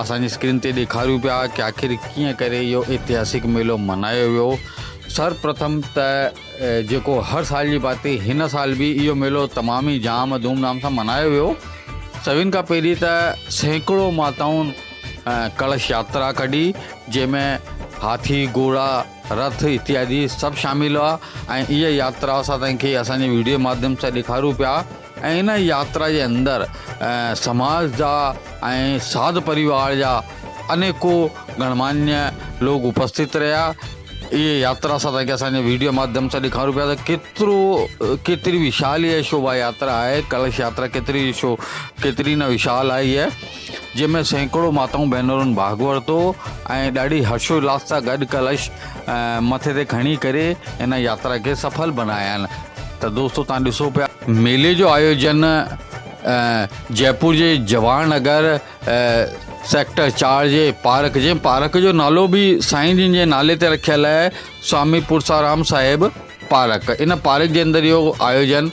اسان جي اسڪرين تي ڏيکاريون پيا ڪي آخر ڪيئن ڪري اهو اتهاسڪ ميلو ملهايو ويو سر پرٿم ته جيڪو هر سال جي باتي هن سال به اهو ميلو تمام ئي جام ڌوم ڌام سان ملهايو ويو سڀن کان پهرين ته سيڪڙو ماتائون ڪلش ياترا ڪڍي جنهن ۾ هاٿي گهوڙا رٿ اتيادي سڀ شامل هئا ۽ اها ياترا اسان تائين کي اسان جي ويڊيو ماڌيم سان ڏيکاريون پيا ۽ ان ياترا جي اندر سماج جا ۽ ساڌ پريوار جا انيڪو گڻمانيء لوڪ اپستت رهيا. اهي ياترا سان تنهنکي اسان جي وڊيو ماڌيم سان ڏيکارون پيا ته ڪيترو ڪيتري وشال اهي شوڀا ياترا آهي ڪلش ياترا ڪيتري شو ڪيتري نه وشال آهي هيء. جنهن ۾ سيڪڙو ماتائون ڀينرن ڀاڳ ورتو ۽ ڏاڍي هرشولاس سان گڏ ڪلش مٿي تي کڻي ڪري ان ياترا کي سڦل بنايائين ته دوستو توهان ڏسو پيا ميلي جو آيوجن جئپور جي جواهر نگر سيڪٽر چار جي پارڪ جنهن پارڪ جو نالو به سائين جن جي نالي تي رکيل آهي سوامي پورسارام صاحب پارڪ ان پارڪ جي اندر اهو آيوجن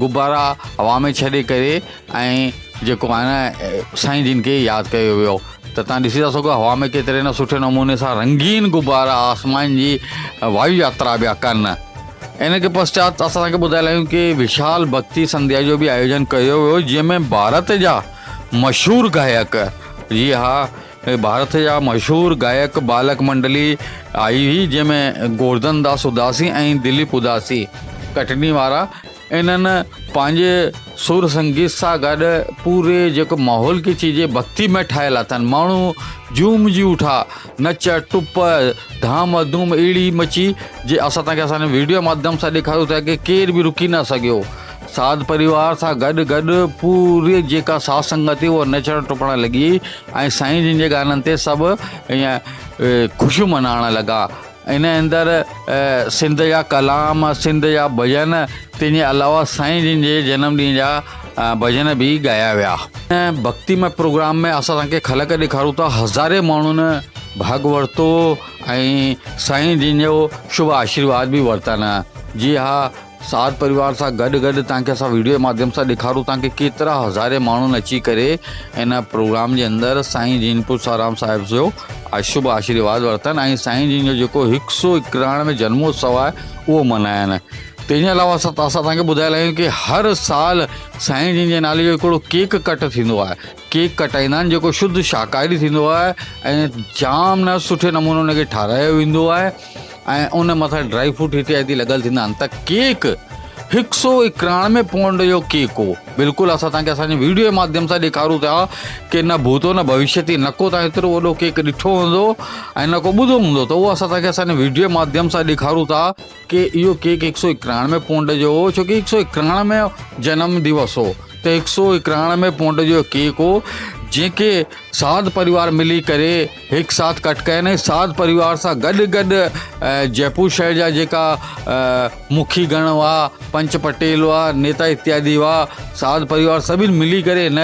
غبارا هوا ۾ ڇڏي ڪري ۽ جيڪو آهي نه سائين جن کي ياد ڪيو ويو ته تان ڏسي ٿا سگهو هوا ۾ ڪيتري نه سٺي نموني سان رنگين غبارا آسمان جي وايو ياترا پيا ڪن ان کي پشچات اسان کي ٻڌايل آهيون ڪي وشال ڀڪتي سنڌيا جو به آيوجن ڪيو ويو جنهن ۾ ڀارت جا مشهور گايڪ جي ها ڀارت جا مشهور گائڪ بالڪ منڊلي آئي هئي جنهن ۾ گوردن داس اداسي ۽ دليپ اداسي ڪٽني وارا انهن پنهنجي سر سنگيت سان گڏ پوري جيڪو ماحول کي چئجي ڀڪتي ۾ ٺاهيل اٿن ماڻهو جوم جي اٺا نچ ٽپ ڌام ڌوم اهڙي مچي جي اسان تنهنکي اسان ويڊيو ماڌيم سان ڏيکاريو ٿا ڪي ڪير به رڪي نه سگهيو ساڌ پريوار سان گڏ گڏ پوري جيڪا ساڌ سنگت هئي اها نچڻ ٽپڻ لڳي ۽ سائين جن جي گانن تي سڀ ائين خوشيون منائڻ لڳا ان اندر سنڌ جا ڪلام سنڌ جا ڀڄن تنهن جي علاوه سائين جن جي جنم ڏينهن جا ڀڄن به ڳايا ويا ڀڳتي مئي پروگرام ۾ اسان تنهن کي خلق ڏيکارون ٿا هزارين ماڻهن ڀاڳ ورتو ۽ سائين جن جو شڀ آشيرواد به ورتن جي ها ساٿ پريوار سان گڏ گڏ تانکي اسان ويڊيو جي ماڌيم سان ڏيکارون ٿا ڪي ڪيترا هزارين ماڻهن اچي ڪري ان پروگرام جي اندر سائين جين پوسارام صاحب جو شڀ آشيرواد ورتن ۽ سائين جين جو جيڪو هڪ سو اڪراڻ ۾ جنموتسو آهي اهو ملهاين تنهن جي علاوه اسان توهان کي ٻڌايل آهيون ڪي هر سال سائين جين جي نالي جو هڪڙو ڪيڪ ڪٽ ٿيندو آهي ڪيڪ ڪٽائيندا آهن جيڪو شڌ شاهڪاري ٿيندو آهي ۽ جام نه سٺي نموني ان کي ٺاراهيو ويندو آهي ۽ ان مٿان ڊرائي فروٽ هتي هتي لڳل ٿيندا آهن ته ڪيڪ هڪ سو اڪراڻوي پونڊ جو ڪيڪ هو بلڪل اسان تانکي اسان جي ويڊيو جي ماڌيم سان ڏيکارون ٿا ڪي نه ڀوتو نه ڀوشيتي نه ڪو تان هيترو وڏو ڪيڪ ڏٺو هوندو ۽ نه ڪو ٻڌو هوندو ته اهو اسان تانکي اسان جي ويڊيو جي ماڌيم سان ڏيکارون ٿا ڪي اهو ڪيڪ هڪ سو اڪراڻوي پونڊ جو هو ڇو ڪي هڪ سو اڪراڻوي جنم ديوس هو ته هڪ سو اڪراڻوي پونڊ جو ڪيڪ هو جنهن کي ساڌ پريوار ملي ڪري هڪ ساٿ ڪٽ ڪين ۽ ساڌ پريوار سان گڏ گڏ جئپور شهر جا جيڪا مکي گڻ هئا پنچ پٽيل هئا نيتا اتيادي هئا ساڌ پريوار سڀني ملي ڪري هن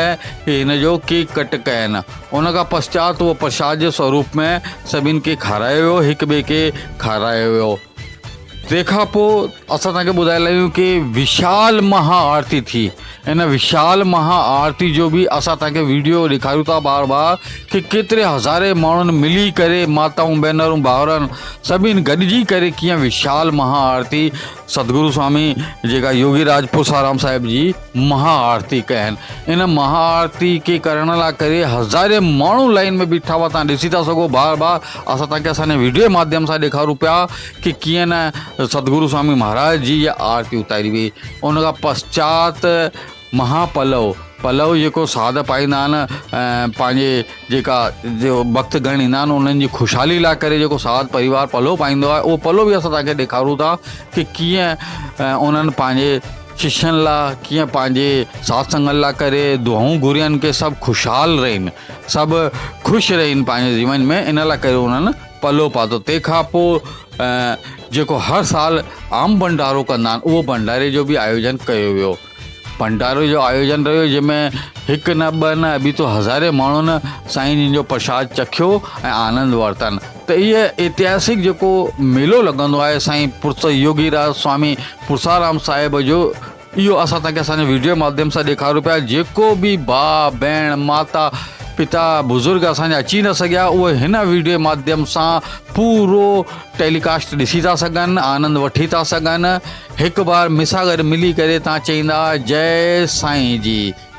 هن جو ڪيڪ ڪٽ ڪين ان کان پشچات اهو پرشاد جي سوروپ ۾ سڀني کي کارايو ويو، هڪ ٻئي کي کارايو ويو. تنهن کان پوء اسان توهان کي ٻڌائي لائيون ڪي وشال مها آرتي ٿي. ان وشال مها آرتي جو به اسان توهان کي ويڊيو ڏيکاريون ٿا بار بار ڪي ڪيتري هزارين ماڻهن ملي ڪري ماتائون ڀينرون ڀائرن سڀني گڏجي ڪري ڪيئن وشال مها آرتي ستگرو سوامي جيڪا يوگي راج پرسارام صاحب جي مها آرتي ڪين ان مها آرتي کي ڪرڻ لاء ڪري هزارين ماڻهو لائين ۾ بيٺا هئا توهان ڏسي ٿا سگهو بار بار اسان توهان کي اسان جي ويڊيو جي ماڌيم سان ڏيکارون پيا ڪي ڪيئن نه ستگرو سوامي مهاراج جي آرتي اتاري وئي ان کان پسچات مها پلو پلو جيڪو ساڌ پائيندا آهن پنهنجي جيڪا جو بخت گهڻ ايندا آهن انهن جي خوشحالي لاء ڪري جيڪو ساڌ پريوار پلو پائيندو آهي اهو پلو به اسان توهان کي ڏيکارون ٿا ڪي ڪيئن انهن پنهنجي ششين لا ڪيئن پنهنجي ساٿ سنگت لا ڪري دعائون گهرين ڪي سڀ خوشحال رهين سڀ خوش رهين پنهنجي جيون ۾ ان لا ڪري انهن پلو پاتو تنهن کان پو جيڪو هر سال عام ڀنڊارو ڪندا آهن اهو ڀنڊاري جو به آيوجن ڪيو ويو ڀنڊاري جو آيوجن رهيو جنهن ۾ هڪ نه ٻه نه ابيتو هزارين ماڻهن سائين جن جو پرشاد چکيو ۽ آنند ورتن ته هيء اتهاسڪ جيڪو ميلو لڳندو آهي سائين پرس يوگي راز سوامي پرسارام صاحب جو اهو اسان تنهن کي اسان جي ويڊيو ماڌيم سان ڏيکاريون پيا جيڪو به ڀاء ڀيڻ ماتا پتا بزرگ اسان جا اچي نه سگهيا اهي هن ويڊيو ماڌيم سان پورو ٽيلي ڪاسٽ ڏسي ٿا سگهن آنند وٺي ٿا سگهن هڪ بار مس سان گڏ ملي ڪري تان چئيندا جئي سائين جي